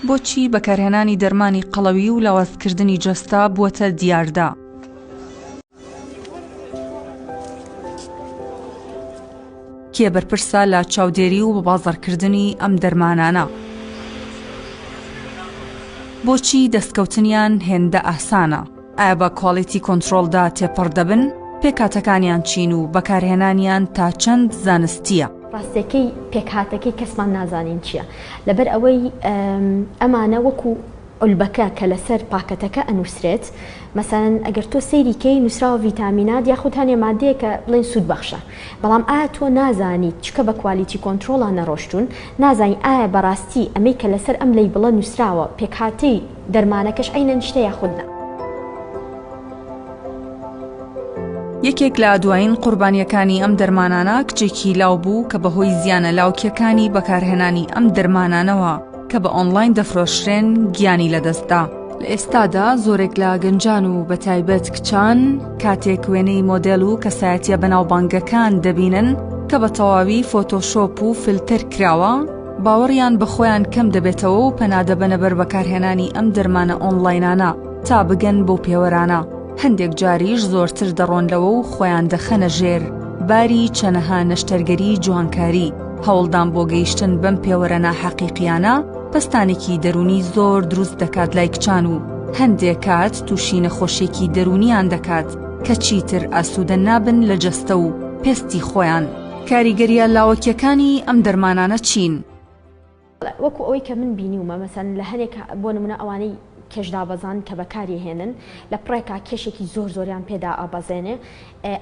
بۆچی بەکارهێنانی دەرمانی قەڵەوی و لاوازکردنی جەستە بووەتە دیاردە؟ کێ بەرپرسە لە چاودێری و بەبازاڕکردنی ئەم دەرمانانە؟ بۆچی دەستکەوتنیان هێندە ئاسانە؟ ئایا بە کوالیتی کۆنترۆڵدا تێپەڕ دەبن؟ پێکهاتەکانیان چین و بەکارهێنانیان تا چەند زانستییە؟ ڕاستیەکەی پێکهاتەکەی کەسمان نازانین چییە لەبەر ئەوەی ئەمانە وەکو علبەکە کە لەسەر پاکەتەکە ئەنووسرێت مەسەن ئەگەر تۆ سەیریکەی نووسراوە ڤیتامینات یاخود هەنێ مادەیە کە بڵێن سوود بەخشە بەڵام ئایا تۆ نازانیت چکە بە کوالیتی کۆنتترۆڵە نەڕۆشتون نازانی ئایا بەڕاستی ئەمەی کە لەسەر ئەم لی بڵە نووسراوە پێکهاتەی دەرمانەکەش عەینەن شتە یاخود نا. یەکێک لە دوایین قوربانییەکانی ئەم دەرمانانە کچێکی لاو بوو کە بەهۆی زیانە لاوکیەکانی بەکارهێنانی ئەم دەرمانانەوە کە بە ئۆنلاین دەفرۆشرێن گیانی لەدەستدا. لە ئێستادا زۆرێک لە گەنجان و بە تایبەت کچان کاتێک وێنەی مۆدێل و کەسایەتە بەناوبانگەکان دەبینن کە بە تەواوی فۆتۆشۆپ و فلتەر کراوە، باوەڕیان بە خۆیان کەم دەبێتەوە و پەنادەبەنە بەر بەکارهێنانی ئەم دەرمانە ئۆنڵاینانە تا بگەن بەو پێوەرانە، هەندێک جاریش زۆرتر دەڕۆن لەوە و خۆیان دەخەنە ژێر باری چەنەها نەشتەرگەری جوانکاری، هەوڵدان بۆ گەیشتن بەم پێوەرە ناحەقیقیانە پەستانێکی دەروونی زۆر دروست دەکات لای کچان و هەندێک کات تووشی نەخۆشیێکی دەروونیان دەکات کە چیتر ئاسوودە نابن لە جەستە و پێستی خۆیان. کاریگەریە لاوەکیەکانی ئەم دەرمانانە چین؟ وەکو ئەوەی کە من بینیومە مەسەن لە هەنێک بۆ نمونە ئەوانەی کێش دابەزان کە بەکاری هێنن لە پڕێکا کێشێکی زۆر زۆریان پێدا ئابەزێنێ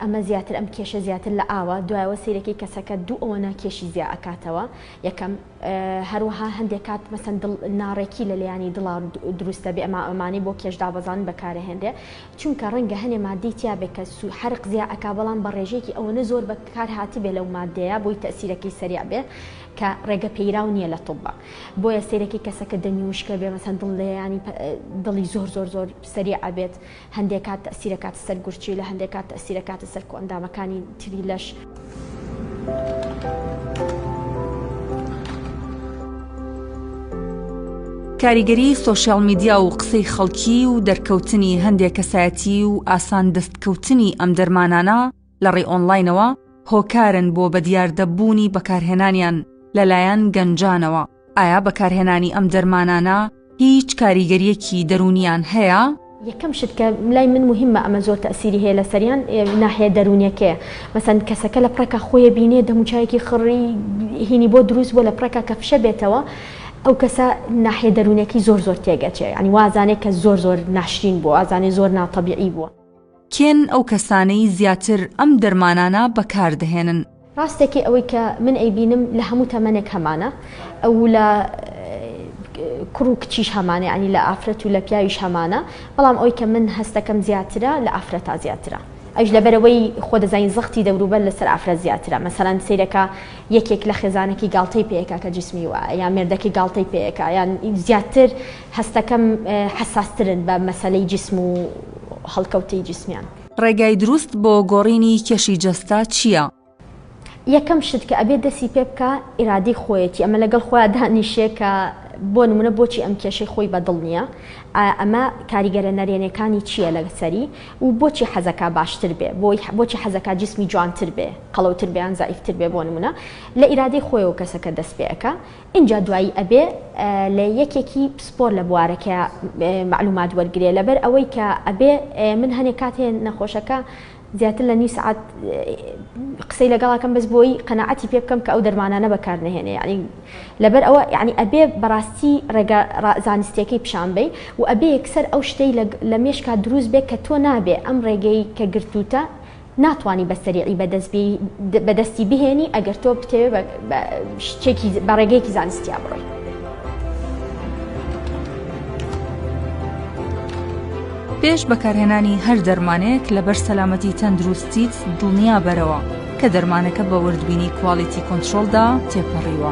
ئەمە زیاتر ئەم کێشە زیاتر لە ئاوە دوایەوە سیرەکەی کەسەکە دوو ئەوەنە کێشی زیا ئەکاتەوە یەکەم هەروەها هەندێک کات مەسەن ناڕێکی لە لێیانی دڵان دروستە بێ ئەما ئەمانی بۆ کێش دابەزان بەکارە هێنرێ چونکە ڕەنگە هەنێ ماددەی تیا بێ کە سو حرق زیا ئەکا بەڵام بە ڕێژەیەکی ئەوەنە زۆر بە کار هاتبێ لەو ماددەیە بۆی تەئسیرەکەی سەریع بێ کە ڕێگە پێیراو نیە لە طب بۆیە سەیرەکی کەسەکە دەمی وشکە بێ مەسەن دڵ لێیانی دڵی زۆر زۆر زۆر سەریع ئەبێت هەندێ کات تەئسیرەکاتە سەر گورچیلە هەندێ کات تەئسیرەکاتە سەر کۆئەندامەکانی تری لەش کاریگەری سۆشیال میدیا و قسەی خەڵکی و دەرکەوتنی هەندێک کەسایەتی و ئاسان دەستکەوتنی ئەم دەرمانانە لە ڕێ ئۆنلاینەوە هۆکارن بۆ بەدیاردەبوونی بەکارهێنانیان لەلایەن گەنجانەوە ئایا بەکارهێنانی ئەم دەرمانانە هیچ کاریگەریەکی دەروونیان هەیە؟ یەکەم شت کە لای من موهیمە ئەمە زۆر تەئسیری هەیە لەسەریان ناحیە دەروونیەکەیە مەسەن کەسەکە لە پڕێکا خۆیە بینێ دەموچاوێکی خڕی هینی بۆ دروست بوە لە پڕێکا کە فشە بێتەوە ئەو کەسە ناحیە دەروونەکەی زۆر زۆر تێگەچێ ینی وازانێ کە زۆر زۆر ناشرین بوە وازانێ زۆر ناتەبیعی بوە. کێن ئەو کەسانەی زیاتر ئەم دەرمانانە بەکاردەهێنن؟ ڕاستە کێ ئەوەی کە من ئەیبینم لە هەموو تەمەنێک هەمانە ئەوو لە کوڕ و کچیش هەمانە یانی لە ئافرەت و لە پیاویش هەمانە بەڵام ئەوی کە من هەستەکەم زیاترە لە ئافرەتا زیاترە ئەوش لەبەرەوەی خۆ دەزانین زەختی دەوروبەر لەسەر ئافرەت زیاترە مەسەلەن سەیرەکە یەکێک لە خێزانەکی گاڵتەی پێکا کە جسمی وایە یان مێردەکەی گاڵتەی پێکا یان زیاتر هەستەکەم حەساسترن بە مەسەلەی جیسم و هەڵکەوتەی جیسمیان. ڕێگای دروست بۆ گۆڕینی کێشی جەستە چیە؟ یەکەم شت کە ئەبێ دەسی پێ بکا ئیرادەی خۆیەتی ئەمە لەگەڵ خۆیا دانیشێ کە بۆ نمونە بۆچی ئەم کێشەی خۆی بە دڵ نیە ئا ئەمە کاریگەرە نەرێنێکانی چیە لە سەری و بۆچی حەزەکا باشتر بێ بۆی بۆچی حەزەکا جیسمی جوانتر بێ قەڵەوتر بێ یان زەعیفتر بێ بۆ نمونە لە ئیرادەی خۆیەوە کەسەکە دەست پێ ئەکا ئینجا دوایی ئەبێ لە یەکێکی پسپۆر لە بوارەکە مەعلومات وەرگرێ لەبەر ئەوەی کە ئەبێ من هەنێ کات هەیە نەخۆشەکە زیاتر لە نیو سعات قسەی لەگەڵاکەم بەس بۆی قەنەعەتی پێ بکەم کە ئەو دەرمانانە بەکار نهێنێ یعنی لەبەر ئەوە یعنی ئەبێ بەڕاستی ڕێگە زانستیەکەی پیشان بی و ئەبێ یەکسەر ئەو شتەی لە مێشکا دروست بێ کە تۆ نابێ ئەم ڕێگەی کە گرتوتە ناتوانی بە سەریعی بەدەست بی بەدەستی بهێنی ئەگەر تۆ بتەوێ بە شتێکی بە ڕێگەیەکی زانستیا بڕۆی پێش بەکارهێنانی هەر دەرمانێک لەبەر سەلامەتی تەندروستیت دڵنیا بەرەوە کە دەرمانەکە بە وردبینی کوالیتی کۆنتترۆلدا تێپەڕیوە.